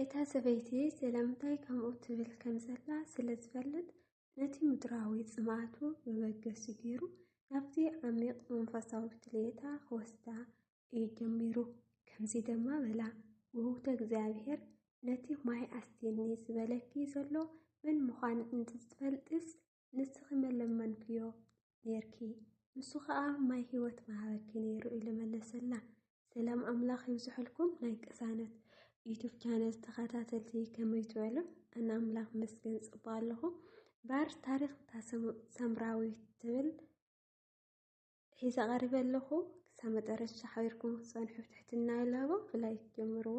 እታ ሰበይቲ ስለምንታይ ከምኡ ትብል ከም ዘላ ስለ ዝፈልጥ ነቲ ምድራዊ ጽምኣቱ መበገሲ ገይሩ ናብቲ ዓሚቕ መንፈሳዊ ድሌታ ክወስዳ እዩ ጀሚሩ። ከምዚ ድማ በላ፣ ውህውተ እግዚኣብሔር ነቲ ማይ ኣስትየኒ ዝበለኪ ዘሎ መን ምዃን እንተዝትፈልጥስ ንስኺ መለመንክዮ ኔርኪ ንሱ ኸኣ ማይ ህይወት መሃበኪ ነይሩ ኢሉ መለሰላ። ሰላም ኣምላኽ ይብዝሐልኩም ናይ ቅሳነት ዩቱብ ቻነል ተኸታተልቲ ከመይ ትበሉ? ኣነ ኣምላኽ መስገን ጽቡቕ ኣለኹ። ባር ታሪኽ እታ ሰምራዊት ትብል ሒዘ ቀሪበ ኣለኹ። ክሳብ መጠረሻ ሓቢርኩም ክትጸንሑ ብትሕትና ይላቦ። ብላይክ ጀምርዎ።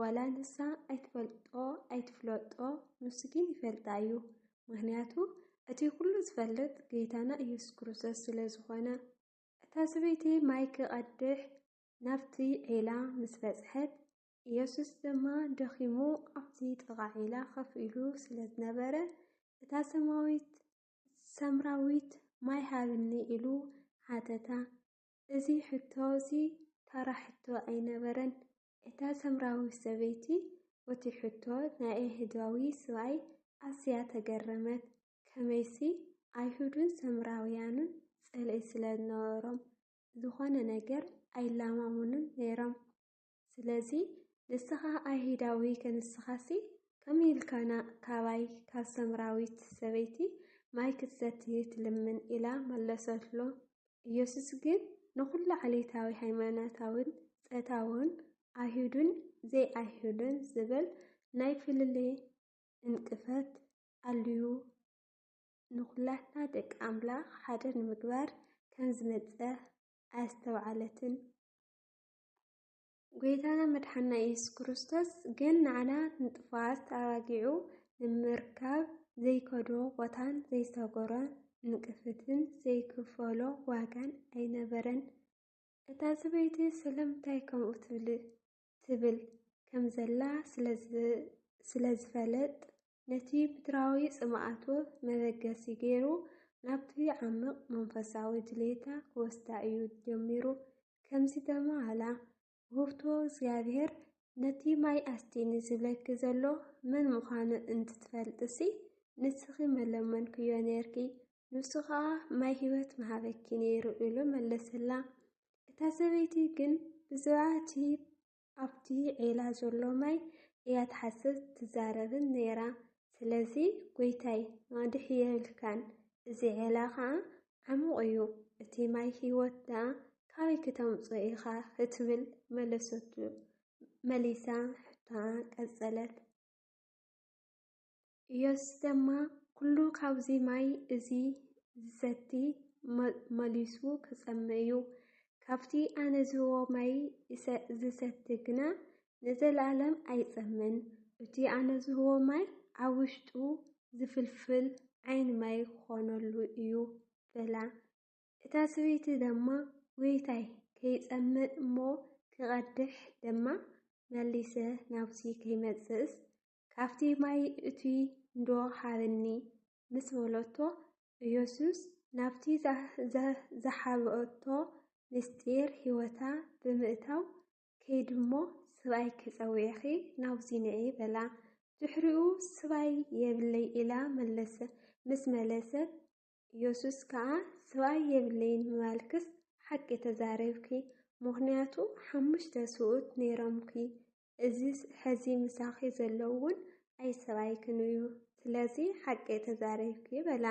ዋላ ንሳ ኣይትፈልጦ ኣይትፍለጦ ንሱ ግን ይፈልጣ እዩ ምክንያቱ እቲ ኩሉ ዝፈልጥ ገይታና ኢየሱስ ክርስቶስ ስለ ዝኾነ። እታ ሰበይቲ ማይ ክቐድሕ ናብቲ ዒላ ምስ በጽሐት ኢየሱስ ድማ ደኺሙ ኣብቲ ጥቓ ዒላ ከፍ ኢሉ ስለ ዝነበረ እታ ሰማዊት ሰምራዊት ማይ ሃብኒ ኢሉ ሓተታ። እዚ ሕቶ እዚ ተራ ሕቶ ኣይነበረን። እታ ሰምራዊት ሰበይቲ ቦቲ ሕቶ ናይ ኣይሁዳዊ ስብኣይ ኣዝያ ተገረመት፣ ከመይሲ ኣይሁድን ሰምራውያንን ጽልኢ ስለ ዝነበሮም ዝዀነ ነገር ኣይለማመኑን ነይሮም። ስለዚ፣ ንስኻ ኣይሁዳዊ ከንስኻሲ ከመይ ኢልካ ካባይ ካብ ሰምራዊት ሰበይቲ ማይ ክትሰቲ ትልምን? ኢላ መለሰትሉ። ኢየሱስ ግን ንዅሉ ዓሌታዊ፣ ሃይማኖታውን ጸታውን፣ ኣይሁድን ዘይኣይሁድን ዝብል ናይ ፍልልይ ዕንቅፈት ኣልዩ ንዅላትና ደቂ ኣምላኽ ሓደ ንምግባር ከም ዝመጸ ኣየስተውዓለትን። ጐይታና መድሓና ኢየሱስ ክርስቶስ ግን ንዓና ንጥፉኣት ተኣባጊዑ ንምርካብ ዘይከዶ ቦታን ዘይሰገሮ ንቅፍትን ዘይክፈሎ ዋጋን ኣይነበረን። እታ ሰበይቲ ስለምንታይ ከምኡ ትብል ትብል ከም ዘላ ስለ ዝፈለጥ ነቲ ምድራዊ ጽምኣቱ መበገሲ ገይሩ ናብቲ ዓምቕ መንፈሳዊ ድሌታ ክወስዳ እዩ ጀሚሩ። ከም ዝተማህላ ውህብቶ እግዚኣብሔር ነቲ ማይ ኣስትኒ ዝብለኪ ዘሎ መን ምዃኑ እንትትፈልጥሲ ንስኺ መለመንክዮ ነርኪ ንሱ ኸዓ ማይ ህይወት ምሃበኪ ነይሩ ኢሉ መለሰላ። እታ ሰበይቲ ግን ብዝበዓቲ ኣብቲ ዒላ ዘሎ ማይ እያ ትሓስብ ትዛረብን ነይራ። ስለዚ ጐይታይ ማድሕ የብልካን፣ እዚ ዒላ ኸኣ ዓሙቕ እዩ፣ እቲ ማይ ህይወት ደኣ ካበይ ክተምጽኦ ኢኻ ክትብል መለሰቱ። መሊሳ ሕቶኣ ቀጸለት። ኢየሱስ ደማ ኩሉ ካብዚ ማይ እዚ ዚሰቲ መሊሱ ኪጸምእ እዩ፣ ካብቲ ኣነ ዝህቦ ማይ ዚሰቲ ግና ንዘለኣለም ኣይጸምእን፣ እቲ ኣነ ዝህቦ ማይ ኣብ ውሽጡ ዚፍልፍል ዓይኒ ማይ ኪኾነሉ እዩ በላ። እታ ሰበይቲ ደማ ጎይታይ ከይጸምእ እሞ ኪቐድሕ ደማ መሊሰ ናብዚ ከይመጽእስ ካብቲ ማይ እቱይ እንዶ ሃበኒ ምስ በለቶ፣ ኢየሱስ ናብቲ ዝሓበኦቶ ምሥጢር ሕይወታ ብምእታው፣ ከይዲ እሞ ስብኣይኪ ጸዊዕኺ ናብዙይ ንዒ በላ። ድሕሪኡ ስብኣይ የብለይ ኢላ መለሰ ምስ መለሰት፣ ኢየሱስ ከኣ ስብኣይ የብለይን ምባልክስ ሓቂ ተዛሪብኪ፣ ምኽንያቱ ሓሙሽተ ስብኡት ነይሮምኪ፣ እዚስ ሐዚ ምሳኺ ዘሎ'ውን ኣይ ሰብኣይክን'ዩ፣ ስለዚ ሓቂ ተዛሪብኪ በላ።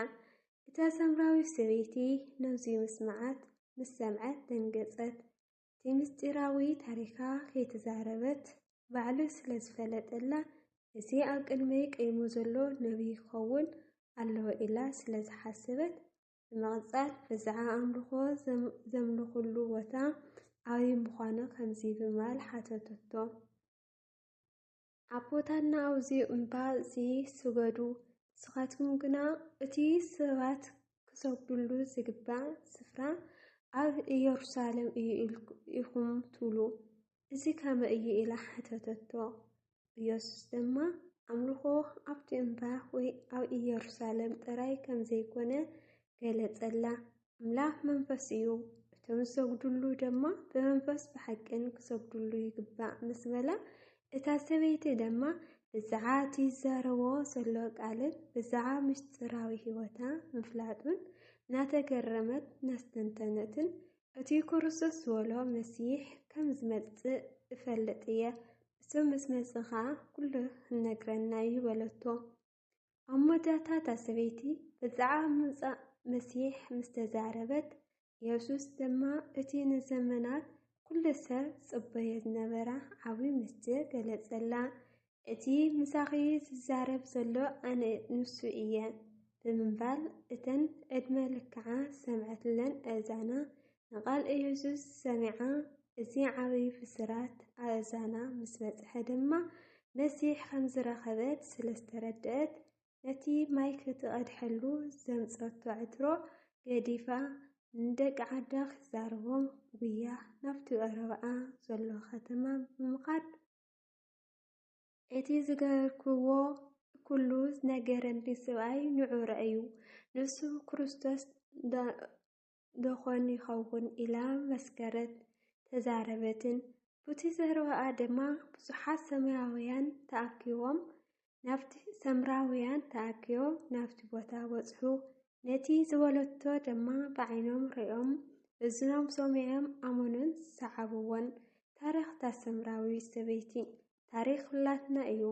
እታ ሳምራዊት ሰበይቲ ነዙይ ምስምዓት ምስ ሰምዐት ደንገጸት። እቲ ምስጢራዊ ታሪኻ ከይተዛረበት ባዕሉ ስለ ዝፈለጠላ እዚ ኣብ ቅድመይ ቀይሙ ዘሎ ነብይ ክኸውን ኣለዎ ኢላ ስለ ዝሓሰበት ብምቕጻል ብዝዓ ኣምልኾ ዘምልኹሉ ቦታ ኣበይ ምዃኑ ከምዚ ብምባል ሓተተቶ። ኣቦታትና ኣብዚ እምባ እዚ ስገዱ፣ ንስኻትኩም ግና እቲ ሰባት ክሰግዱሉ ዝግባእ ስፍራ ኣብ ኢየሩሳሌም እዩ ኢኹም ትብሉ። እዚ ከመይ እዩ ኢላ ሓተተቶ። ኢየሱስ ድማ ኣምልኾ ኣብቲ እምባ ወይ ኣብ ኢየሩሳሌም ጥራይ ከም ዘይኮነ ገለጸላ። ኣምላኽ መንፈስ እዩ፣ እቶም ዝሰግዱሉ ድማ ብመንፈስ ብሓቅን ክሰግዱሉ ይግባእ ምስ በላ፣ እታ ሰበይቲ ድማ ብዛዕባ እቲ ዝዛረቦ ዘሎ ቃልን ብዛዕባ ምስጢራዊ ሕይወታ ምፍላጡን እናተገረመት እናስተንተነትን እቲ ክርስቶስ ዝበሎ መሲሕ ከም ዝመጽእ እፈልጥ እየ፣ እሱ ምስ መጽእ ኸኣ ኵሉ ኺነግረና እዩ በለቶ። ኣብ መወዳእታ እታ ሰበይቲ ብዛዕባ ምምጻእ መሲሕ ምስ ተዛረበት፣ የሱስ ድማ እቲ ንዘመናት ኵሉ ሰብ ዝጽበዮ ዝነበረ ዓብዪ ምስጢር ገለጸላ። እቲ ምሳኺ ዝዛረብ ዘሎ ኣነ ንሱ እየ ብምባል እተን ዕድመ ልክዓ ዝሰምዐትለን ኣእዛና ንቓል ኢየሱስ ሰሚዓ እዚ ዓብዪ ብስራት ኣእዛና ምስ በጽሐ ድማ መሲሕ ከም ዝረኸበት ስለ ዝተረድአት ነቲ ማይ ክትቐድሐሉ ዘምጸቶ ዕትሮ ገዲፋ ንደቂ ዓዳ ክዛረቦም ጉያ ናብቲ ቀረባኣ ዘሎ ከተማ ብምኻድ እቲ ዝገበርክዎ ኩሉ ዝነገረኒ ስብኣይ ንዑ ረኣዩ፣ ንሱ ክርስቶስ ደዀን ይኸውን? ኢላ መስከረት ተዛረበትን። ቡቲ ዘረባኣ ድማ ብዙሓት ሰማያውያን ተኣኪቦም ናብቲ ሰምራውያን ተኣኪቦም ናብቲ ቦታ በጽሑ። ነቲ ዝበለቶ ድማ ብዓይኖም ርእዮም እዝኖም ሰሚዖም ኣመኑን ሰዓብዎን። ታሪኽ እታ ሰምራዊት ሰበይቲ ታሪኽ ኩላትና እዩ።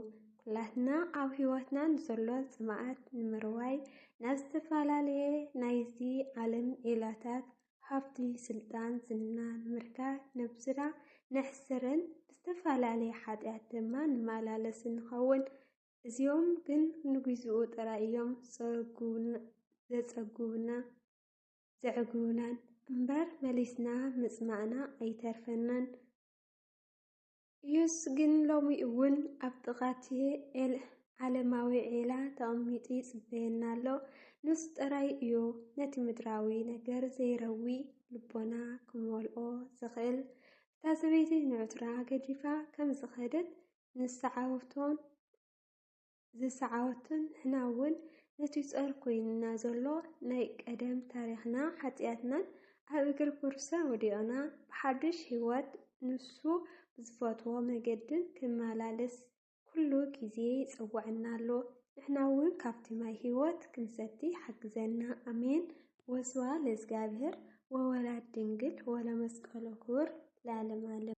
ኩላትና ኣብ ህይወትና ንዘሎ ጽምኣት ንምርዋይ ናብ ዝተፈላለየ ናይዚ ዓለም ዒላታት ሃብቲ፣ ስልጣን፣ ዝና ንምርካብ ነብስና ነሕስርን ብዝተፈላለየ ሓጢኣት ድማ ንመላለስን ንኸውን። እዚኦም ግን ንግዜኡ ጥራይ እዮም ዘጸግቡና ዘዕግቡናን እምበር መሊስና ምጽማእና ኣይተርፈናን። ኢየሱስ ግን ሎሚ እውን ኣብ ጥቓ እቲ ዓለማዊ ዒላ ተቐሚጡ ይጽበየና ኣሎ። ንሱ ጥራይ እዩ ነቲ ምድራዊ ነገር ዘይረዊ ልቦና ክመልኦ ዝኽእል። እታ ሰበይቲ ንዕትሮኣ ገዲፋ ከም ዝኸደት ንሰዓብቶን ዝሰዓወቱን ንሕና ውን ነቲ ጾር ኮይኑና ዘሎ ናይ ቀደም ታሪኽና ሓጥያትናን ኣብ እግሪ ኩርሰ ወዲቕና ብሓዱሽ ሂወት ንሱ ብዝፈትዎ መገድን ክንማላልስ ኩሉ ግዜ ይጽውዕና ኣሎ ንሕና ውን ካብቲ ማይ ሂወት ክንሰቲ ይሓግዘና ኣሜን ወስብሃ ለእዝጋብሄር ወወላድ ድንግል ወለመስቀሉ ክቡር ለዓለመ ዓለም።